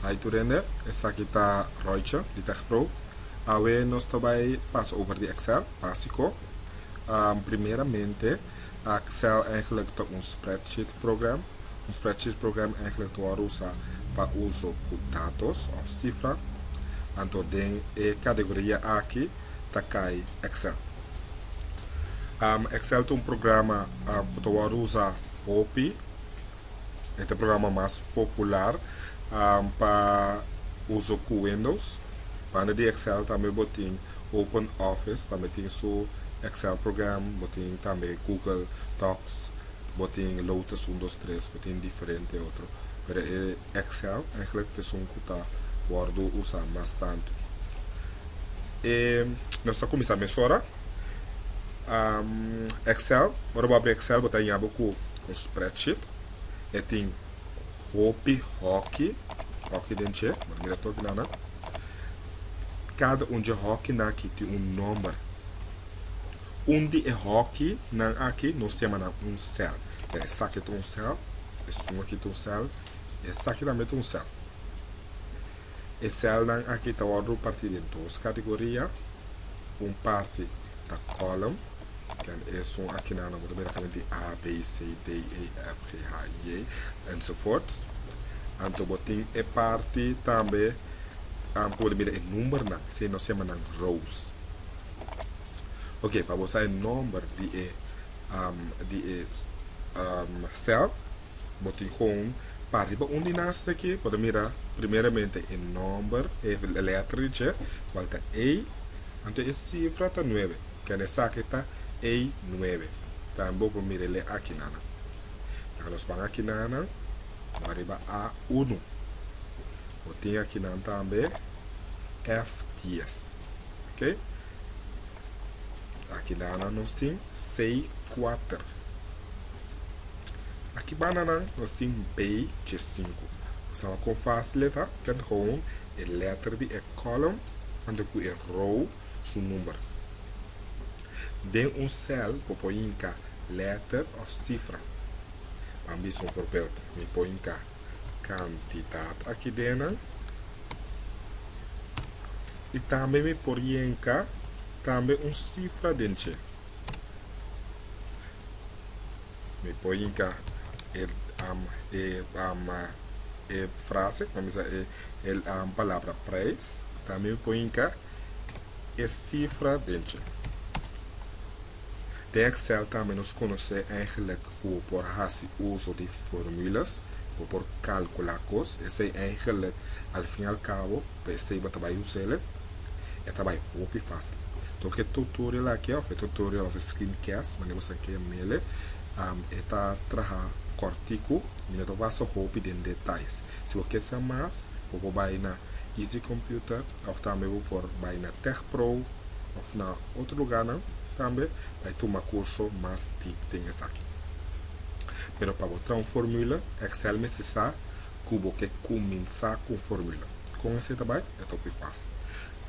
Hi tur hende, esaki ta Royce di TechPro. Awe nos ta bay pas over di Excel básico. Um, primeramente, Excel eigenlijk ta un spreadsheet program. Un spreadsheet program eigenlijk ta wòrdu usá pa uso ku datos òf sifra. Anto den e kategoria aki ta kai Excel. Excel ta un programa ku ta wòrdu usa hopi. E ta programa mas popular pa uso ku Windows. Banda di Excel tambe bo tin Open Office, tambe tin su Excel program, bo tin tambe Google Docs, bo tin Lotus un dos tres, bo tin diferente otro. Excel, eigenlijk het is un cu ta wordo usa mas tanto. E nos ta cuminsa mesora. Excel, ora bo abri Excel bo ta hiña bo cu un spreadsheet. E tin hopi hoki, hoki den dje, bo ta mira tur kina nan. Cada un dje hokinan aki tin un nomber. Un di e hoki nan aki nos ta yama nan un cel. Mira esaki ta un cel, esun aki ta un cel, y esaki tambe ta un cel. E cel nan aki ta wordo parti den dos categoria, un parti ta column, ken esun akinan nan bo ta mira ta binti A, B, C, D, E, F, G, H, I, J, enzovoorts. Anto bo tin e parti tambe, ku bo ta mira e number nan, si nos ta yama nan rows. Ok pa bo sa e nomber di e di e cel bo tin gewoon pa riba un di nan seki por a mira primeramente e nomber e letra di dje cual ta a anto e cifra ta nuebe kende esaki ta a nuebe tambe bo por mira e le aki nan laga nos pan aki nan bo a riba a unu bo tin aki nan tambe ef dies ok. Akilana nos tin sei kuater. Aki bananan nos tin bay dje sinku. Bo sa ba kon fásil e ta? Kende houn e lèter di e kòlom anto ku e rou su number. Den un sèl bo por hinka lèter òf sifra. Ban bisa un forbèld. Mi por hinka kantidat aki den nan. y tambe mi por yenca tambe un cifra den dje. Mi por yinca e am e am e frase mami sa e e am palabra prijs tambe mi por yinca e cifra den dje. Den Excel tambe nos conoce eigenlijk cu we por haci uzo di formulas, cu we por calcula cos, esey eigenlijk al fin al cabo pa esey bo ta bay usele, e ta bay hopi facil. Tok e tutorial aki of e tutorial of e screencast, manera bo sa ke mele, e ta traha cortico y no ta wasa hopi den detalles. Si bo ke sa mas, bo por bay na Easy Computer of tambe bo por bay na Tech Pro. of na otro lugarnan tambe bay tuma curso mas deep den esaki pero pa bo traha un formula excel mester sa cu bo ke cuminsa cu un formula con ese ta bay e ta hopi facil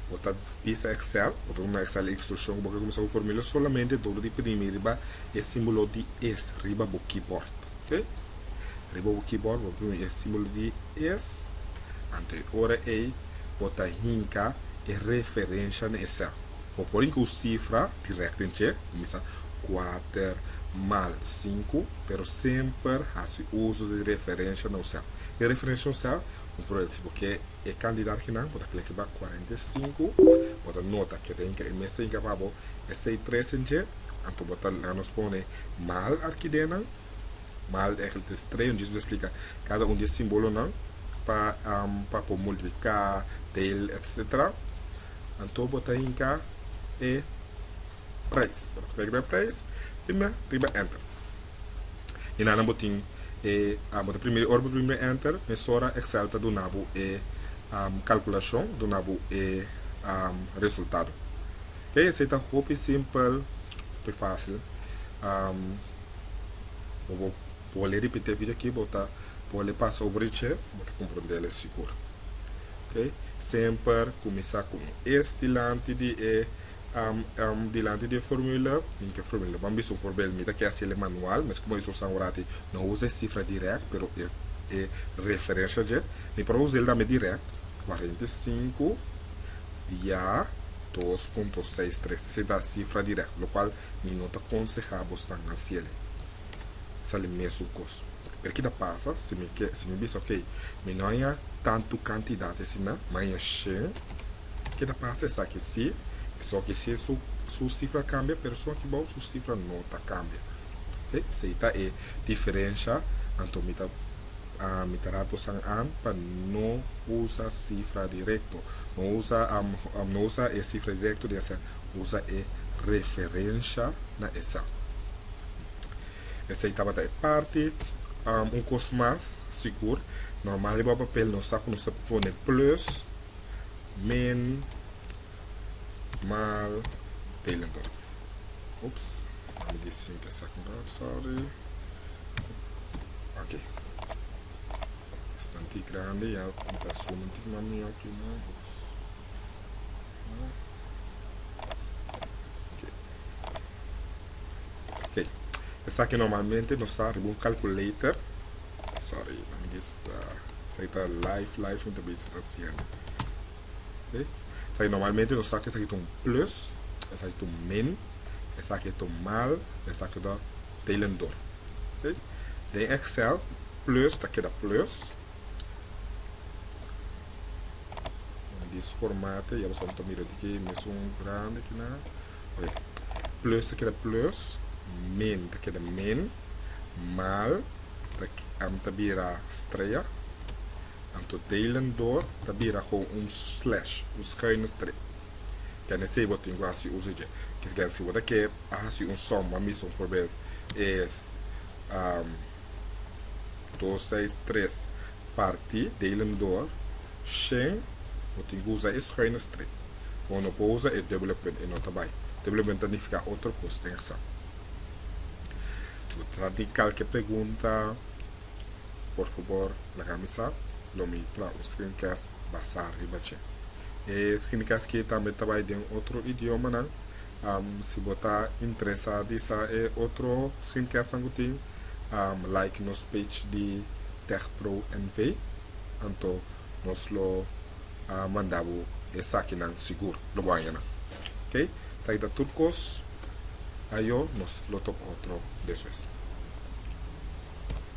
bo ta bisa excel bo ta tuma excel instruccion cu bo ke cuminsa cu un formula solamente dor di primi riba e simbolo di es riba bo keyboard oke riba bo keyboard bo ta primi e simbolo di es anto e ora ey bo ta hinka e referensha na esel. Bo por hinka un sifra direct den dje, bo mester sa kuater mal sinku, pero semper hasi uso di referensha na usel. E referensha na usel, un forbel, si bo ke e kandidat akinan, bo ta kere ke ba kuarenta i sinku, bo ta nota ke ta hinka, e mes ta hinka pa bo e sei tres den dje, anto bo ta laga nos pone mal aki den nan. Bal e ekel tres trei un Jesus a splika kada un di e simbolonan pa pa por multipliká, del, etsetera. Anto bo ta hinka e preis. Bo ta kla riba e preis, prima riba enter. I nan nan bo tin e bo ta primi ora bo primi riba enter mesora Excel ta duna bo e kalkulashon, ta duna bo e resultado. Ke esei ta hopi simpel, hopi fásil. bo bo bol'e ripit'é bida aki bo ta bol'e pasa over e chè bo ta komprendel sigur ok semper kuminsá ku un es dilanti di e dilanti di e formula tin ke formula ban bisa un forbel mi ta ke hasil'e manual mes komo bisa usá orati no usa e sifra dirèkt pero e referensha dje mi por a us'el tambe dirèkt kuarenta i sinku dia dos punto seis tres esei ta sifra dirèkt lokual. Mi no ta konsehá bo stan na siele sali mesun kos. Pero ki ta pasa si mi ke, si mi bisa, Okey, mi no haña tantu kantidat asina, mi a haña shen? Ke ta pasa esaki si, esoki si su su sifra kambia, pero esoki bou su sifra no ta kambia. Ok, so ei ta e diferensha. Anto mi ta mi ta rato san an pa no usa sifra direkto. No usa no usa e sifra direkto di hasier usa e referensha na esei. Esei tabata e parti. Un kos mas, sigur, normal riba papel nos sa ku nos ta pone plus, min, mal, telen por. Ups, nan mi di sinke esaki un rat, sòri. Oke, esta un tik grandi, ya ta suma un tik mas mihó aki, nan. ok esaki normalmente nos sa riba un calculator sorry mami dis esaki ta live live mi ta besi ta siendo ok esaki normalmente nos sa ke esaki ta un plus esaki ta un min esaki ta un mal esaki ta delendor ok den excel plus ta keda plus Na dis formato ya bastan ta mira di ke mes un grandi ki nan. Oke. Plus ta keda plus, min ta keda min, mal ta am ta bira strea, anto delen dor ta bira gewoon un slash, un schuine streep. Kende esei bo tin ku hasi uso dje. Kende si bo ta ke a hasi un som, bo a bisa un forbeeld, es. dos seis tres parti delim door shen no tin cu usa e schuine strik con no por usa e dubbele punt e no ta bay dubbele punt ta nifica otro cos den examen atrás di calke pregunta por favor laga mi sa lo mi traha un screencast basa riba dje e screencast ki tambe ta bay den otro idiomanan Si bo ta interesá di sa e otro screencastnan ku tin, like nos page di TechPro NV, anto nos lo manda bo esakinan sigur, lo bo haña nan. Ok, esaki ta tur kos, ayo nos lo toka otro despues.